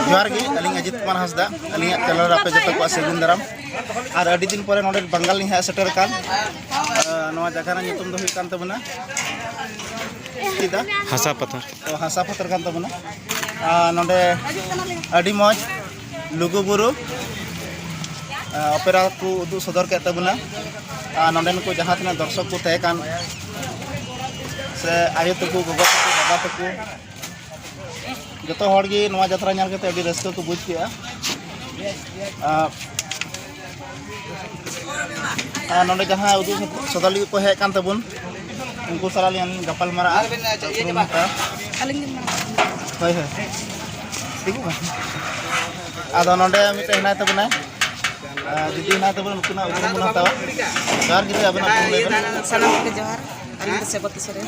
ᱡᱚᱦᱟᱨ ᱜᱮ ᱟᱹᱞᱤᱧ ᱟᱡᱤᱛ ᱠᱩᱢᱟᱨ ᱦᱟᱸᱥᱫᱟ ᱟᱹᱞᱤᱧᱟᱜ ᱪᱮᱱᱮᱞ ᱨᱮ ᱟᱯᱮ ᱡᱚᱛᱚ ᱠᱚᱣᱟᱜ ᱥᱟᱹᱜᱩᱱ ᱫᱟᱨᱟᱢ ᱟᱨ ᱟᱹᱰᱤ ᱫᱤᱱ ᱯᱚᱨᱮ ᱱᱚᱰᱮ ᱵᱟᱝᱜᱟᱞ ᱞᱤᱧ ᱦᱮᱡ ᱥᱮᱴᱮᱨ ᱟᱠᱟᱱ ᱱᱚᱣᱟ ᱡᱟᱭᱜᱟ ᱨᱮᱱᱟᱜ ᱧᱩᱛᱩᱢ ᱫᱚ ᱦᱩᱭᱩᱜ ᱠᱟᱱ ᱛᱟᱵᱚᱱᱟ ᱦᱟᱥᱟ ᱯᱟᱛᱷᱟᱨ ᱦᱟᱥᱟ ᱯᱟᱛᱷᱟᱨ ᱠᱟᱱ ᱛᱟᱵᱚᱱᱟ ᱱᱚᱰᱮ ᱟᱹᱰᱤ ᱢᱚᱡᱽ ᱞᱩᱜᱩ ᱵᱩᱨᱩ ᱚᱯᱮᱨᱟ ᱠᱚ ᱩᱫᱩᱜ ᱥᱚᱫᱚᱨ ᱠᱮᱫ ᱛᱟᱵᱚᱱᱟ ᱟᱨ ᱱᱚᱰᱮᱱ ᱠᱚ ᱡᱟᱦᱟᱸ ᱛᱤᱱᱟᱹᱜ ᱫᱚᱨশᱚᱠ ᱠᱚ ᱛᱟᱦᱮᱸ ᱠᱟᱱ ᱥᱮ ᱟᱭᱳ ᱛᱟᱠᱚ ᱜᱚᱜᱚ ᱛᱟᱠᱚ ᱵᱟᱵᱟ ᱛᱟᱠᱚ ᱡᱚᱛᱚ ᱦᱚᱲ ᱜᱮ ᱱᱚᱣᱟ ᱡᱟᱛᱨᱟ ᱧᱮᱞ ᱠᱟᱛᱮ ᱟᱹᱰᱤ ᱨᱟᱹᱥᱠᱟᱹ ᱠᱚ ᱵᱩᱡᱽ ᱠᱮᱜᱼᱟ ᱟᱨ ᱱᱚᱰᱮ ᱡᱟᱦᱟᱸ ᱩᱫᱩᱜ ᱥᱚᱫᱚᱨ ᱞᱟᱹᱜᱤᱫ ᱠᱚ ᱦᱮᱡ ᱠᱟᱱ ᱛᱟᱵᱚᱱ ᱩᱱᱠᱩ ᱥᱟᱞᱟᱜ ᱞᱤᱧ ᱜᱟᱯᱟᱞ ᱢᱟᱨᱟᱜᱼᱟ ᱦᱳᱭ ᱦᱳᱭ ᱟᱫᱚ ᱱᱚᱰᱮ ᱢᱤᱫᱴᱮᱱ ᱦᱮᱱᱟᱭ ᱛᱟᱵᱚᱱᱟᱭ ᱫᱤᱫᱤ ᱦᱮᱱᱟᱭ ᱛᱟᱵᱚᱱᱟ ᱱᱩᱠᱤᱱᱟᱜ ᱩᱯᱨᱩᱢ ᱵᱚᱱ ᱦᱟᱛᱟᱣᱟ ᱡᱚᱦᱟᱨ ᱜᱤᱫᱽᱨᱟᱹ ᱟᱵᱮᱱᱟᱜ ᱥᱟᱱᱟᱢ ᱠᱚᱜᱮ ᱡᱚᱦᱟᱨ ᱟᱹᱞᱤᱧ ᱫᱚ ᱥᱮᱵᱚᱛᱤ ᱥᱚᱨᱮᱱ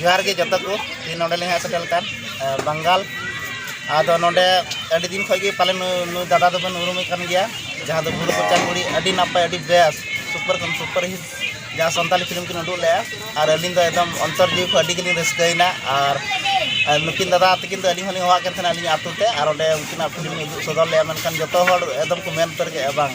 ᱡᱚᱦᱟᱨ ᱜᱮ ᱡᱚᱛᱚ ᱠᱚ ᱛᱮᱦᱮᱧ ᱱᱚᱰᱮ ᱞᱮ ᱦᱮᱡ ᱥᱮᱴᱮᱨ ᱠᱟᱱ ᱵᱟᱝᱜᱟᱞ ᱟᱫᱚ ᱱᱚᱰᱮ ᱟᱹᱰᱤ ᱫᱤᱱ ᱠᱷᱚᱱ ᱜᱮ ᱯᱟᱞᱮ ᱱᱩᱭ ᱫᱟᱫᱟ ᱫᱚᱵᱮᱱ ᱩᱨᱩᱢᱮ ᱠᱟᱱ ᱜᱮᱭᱟ ᱡᱟᱦᱟᱸ ᱫᱚ ᱵᱩᱨᱩ ᱠᱚᱪᱟ ᱠᱩᱲᱤ ᱟᱹᱰᱤ ᱱᱟᱯᱟᱭ ᱟᱹᱰᱤ ᱵᱮᱥ ᱥᱩᱯᱟᱨ ᱠᱷᱚᱱ ᱥᱩᱯᱟᱨ ᱦᱤᱴ ᱡᱟᱦᱟᱸ ᱥᱟᱱᱛᱟᱞᱤ ᱯᱷᱤᱞᱢ ᱠᱤᱱ ᱩᱰᱩᱠ ᱞᱮᱜᱼᱟ ᱟᱨ ᱟᱹᱞᱤᱧ ᱫᱚ ᱮᱠᱫᱚᱢ ᱚᱱᱛᱚᱨ ᱡᱤᱣᱤ ᱠᱷᱚᱱ ᱟᱹᱰᱤ ᱜᱮᱞᱤᱧ ᱨᱟᱹᱥᱠᱟᱹᱭᱮᱱᱟ ᱟᱨ ᱱᱩᱠᱤᱱ ᱫᱟᱫᱟ ᱛᱟᱹᱠᱤᱱ ᱫᱚ ᱟᱹᱞᱤᱧ ᱦᱚᱸᱞᱤᱧ ᱦᱚᱦᱚᱣᱟᱫ ᱠᱤᱱ ᱛᱟᱦᱮᱱᱟ ᱟᱹᱞᱤᱧᱟᱜ ᱟᱹᱛᱩ ᱛᱮ ᱟᱨ ᱚᱸᱰᱮ ᱩᱱᱠᱤᱱᱟᱜ ᱯᱷᱤᱞᱢ ᱤᱧ ᱩᱫᱩᱜ ᱥᱚᱫᱚᱨ ᱞᱮᱜᱼᱟ ᱢᱮᱱᱠᱷᱟᱱ ᱡᱚᱛᱚ ᱦᱚᱲ ᱮᱠᱫᱚᱢ ᱠᱚ ᱢᱮᱱ ᱩᱛᱟᱹᱨ ᱠᱮᱜᱼᱟ ᱵᱟᱝ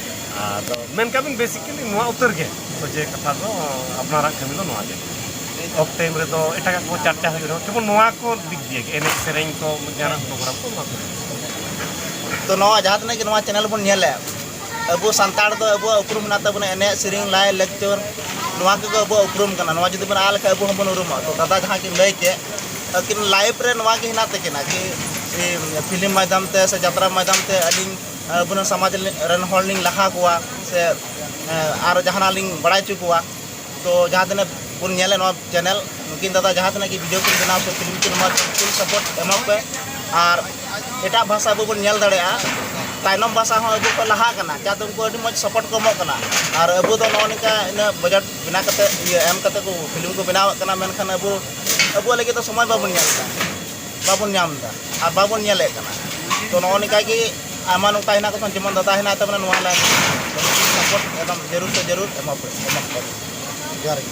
ᱟᱫᱚ ᱢᱮᱱ ᱠᱟᱜ ᱵᱤᱱ ᱵᱮᱥᱤᱠᱟᱞᱤ ᱱᱚᱣᱟ ᱩᱛᱟᱹᱨ ᱜᱮ ᱥᱚᱡᱷᱮ ᱠᱟᱛᱷᱟ ᱫᱚ ᱟᱯᱱᱟᱨᱟᱜ ᱠᱟᱹᱢᱤ ᱫᱚ ᱱᱚᱣᱟ ᱜᱮ ᱚᱯ ᱴᱟᱭᱤᱢ ᱨᱮᱫᱚ ᱮᱴᱟᱜᱟᱜ ᱠᱚ ᱪᱟᱨᱪᱟ ᱦᱩᱭᱩᱜ ᱨᱮᱦᱚᱸ ᱠᱮᱵᱚᱞ ᱱᱚᱣᱟ ᱠᱚ ᱫᱤᱠ ᱫᱤᱭᱮ ᱜᱮ ᱮᱱᱮᱡ ᱥᱮᱨᱮᱧ ᱠᱚ ᱡᱟᱦᱟᱱᱟᱜ ᱯᱨᱳᱜᱨᱟᱢ ᱠᱚ ᱱᱚᱣᱟ ᱠᱚ ᱛᱚ ᱱᱚᱣᱟ ᱡᱟᱦᱟᱸ ᱛᱤᱱᱟᱹᱜ ᱜᱮ ᱱᱚᱣᱟ ᱪᱮᱱᱮᱞ ᱵᱚᱱ ᱧᱮᱞᱮᱫ ᱟᱵᱚ ᱥᱟᱱᱛᱟᱲ ᱫᱚ ᱟᱵᱚᱣᱟᱜ ᱩᱯᱨᱩᱢ ᱢᱮᱱᱟᱜ ᱛᱟᱵᱚᱱᱟ ᱮᱱᱮᱡ ᱥᱮᱨᱮᱧ ᱞᱟᱭ ᱞᱮᱠᱪᱟᱨ ᱱᱚᱣᱟ ᱠᱚᱜᱮ ᱟᱵᱚᱣᱟᱜ ᱩᱯᱨᱩᱢ ᱠᱟᱱᱟ ᱱᱚᱣᱟ ᱡᱩᱫᱤ ᱵᱚᱱ ᱟᱫ ᱞᱮᱠᱷᱟᱱ ᱟᱵᱚ ᱦᱚᱸᱵᱚᱱ ᱩᱨᱩᱢᱚᱜᱼᱟ ᱛᱚ ᱫᱟᱫᱟ ᱡᱟᱦᱟᱸ ᱠᱤᱱ ᱞᱟᱹᱭ ᱠᱮᱫ ᱟᱹᱠᱤᱱ ᱞᱟᱭᱤᱯᱷ ᱨᱮ ᱱᱚᱣᱟ ᱜᱮ ᱦᱮᱱᱟᱜ ᱛᱟᱹᱠᱤᱱᱟ ᱠᱤ ᱯᱷᱤᱞᱢ ᱢᱟᱫᱽᱫᱷᱚᱢ ᱛᱮ ᱥᱮ ᱡᱟᱛᱨᱟ ᱢᱟᱫᱽᱫᱷᱚᱢ ᱛᱮ ᱟᱹᱞᱤᱧ ᱟᱵᱚᱨᱮᱱ ᱥᱚᱢᱟᱡᱽ ᱨᱮᱱ ᱦᱚᱲ ᱞᱤᱧ ᱞᱟᱦᱟ ᱠᱚᱣᱟ ᱥᱮ ᱟᱨ ᱡᱟᱦᱟᱱᱟᱜ ᱞᱤᱧ ᱵᱟᱲᱟᱭ ᱦᱚᱪᱚ ᱠᱚᱣᱟ ᱛᱚ ᱡᱟᱦᱟᱸ ᱛᱤᱱᱟᱹᱜ ᱵᱚᱱ ᱧᱮᱞᱮᱫ ᱱᱚᱣᱟ ᱪᱮᱱᱮᱞ ᱱᱩᱠᱤᱱ ᱫᱟᱫᱟ ᱡᱟᱦᱟᱸ ᱛᱤᱱᱟᱹᱜ ᱜᱮ ᱵᱷᱤᱰᱤᱭᱳ ᱠᱤᱱ ᱵᱮᱱᱟᱣ ᱥᱮ ᱯᱷᱤᱞᱢ ᱠᱤᱱ ᱵᱮᱱᱟᱣ ᱯᱷᱩᱞ ᱥᱟᱯᱳᱨᱴ ᱮᱢᱚᱜ ᱯᱮ ᱟᱨ ᱮᱴᱟᱜ ᱵᱷᱟᱥᱟ ᱟᱵᱚ ᱵᱚᱱ ᱧᱮᱞ ᱫᱟᱲᱮᱭᱟᱜᱼᱟ ᱛᱟᱭᱱᱚᱢ ᱵᱷᱟᱥᱟ ᱦᱚᱸ ᱟᱵᱚ ᱠᱚ ᱞᱟᱦᱟᱜ ᱠᱟᱱᱟ ᱪᱮᱫᱟᱜ ᱩᱱᱠᱩ ᱟᱹᱰᱤ ᱢᱚᱡᱽ ᱥᱟᱯᱳᱨᱴ ᱠᱚ ᱮᱢᱚᱜ ᱠᱟᱱᱟ ᱟᱨ ᱟᱵᱚ ᱫᱚ ᱱᱚᱜᱼᱚ ᱱᱚᱝᱠᱟ ᱩᱱᱟᱹᱜ ᱵᱟᱡᱮᱴ ᱵᱮᱱᱟᱣ ᱠᱟᱛᱮᱫ ᱤᱭᱟᱹ ᱮᱢ ᱠᱟᱛᱮᱫ ᱠᱚ ᱯᱷᱤᱞᱢ ᱠᱚ ᱵᱮᱱᱟᱣᱮᱫ ᱠᱟᱱᱟ ᱢᱮᱱᱠᱷᱟᱱ ᱟᱵᱚ ᱟᱵᱚᱣᱟᱜ ᱞᱟᱹᱜᱤᱫ ᱫᱚ ᱥᱚᱢᱚᱭ ᱵᱟᱵᱚᱱ ᱧᱟᱢ ᱮᱫᱟ ᱵᱟᱵᱚᱱ ᱧᱟᱢ ᱮᱫᱟ ᱟᱨ ᱵᱟᱵᱚᱱ ᱧᱮᱞᱮᱫ ᱠᱟᱱᱟ ᱛᱚ ᱱᱚᱜᱼᱚ ᱱᱚᱝᱠᱟ ᱜᱮ ᱟᱭᱢᱟ ᱱᱚᱝᱠᱟ ᱦᱮᱱᱟᱜ ᱛᱟᱵᱚᱱᱟ ᱡᱮᱢᱚᱱ ᱫᱟᱫᱟ ᱦᱮᱱᱟᱭ ᱛᱟᱵᱚᱱᱟ ᱱᱚᱣᱟ ᱞᱟᱭᱤᱱ ᱨᱮ ᱥᱟᱯᱳᱨᱴ ᱮᱠᱫᱚᱢ ᱡᱟᱹᱨᱩᱲ ᱥᱮ ᱡᱟᱹᱨᱩᱲ ᱮᱢᱟ ᱠᱚ ᱮᱢᱟ ᱠᱚ ᱛᱟᱵᱚᱱ ᱡᱚᱦᱟᱨ ᱜᱮ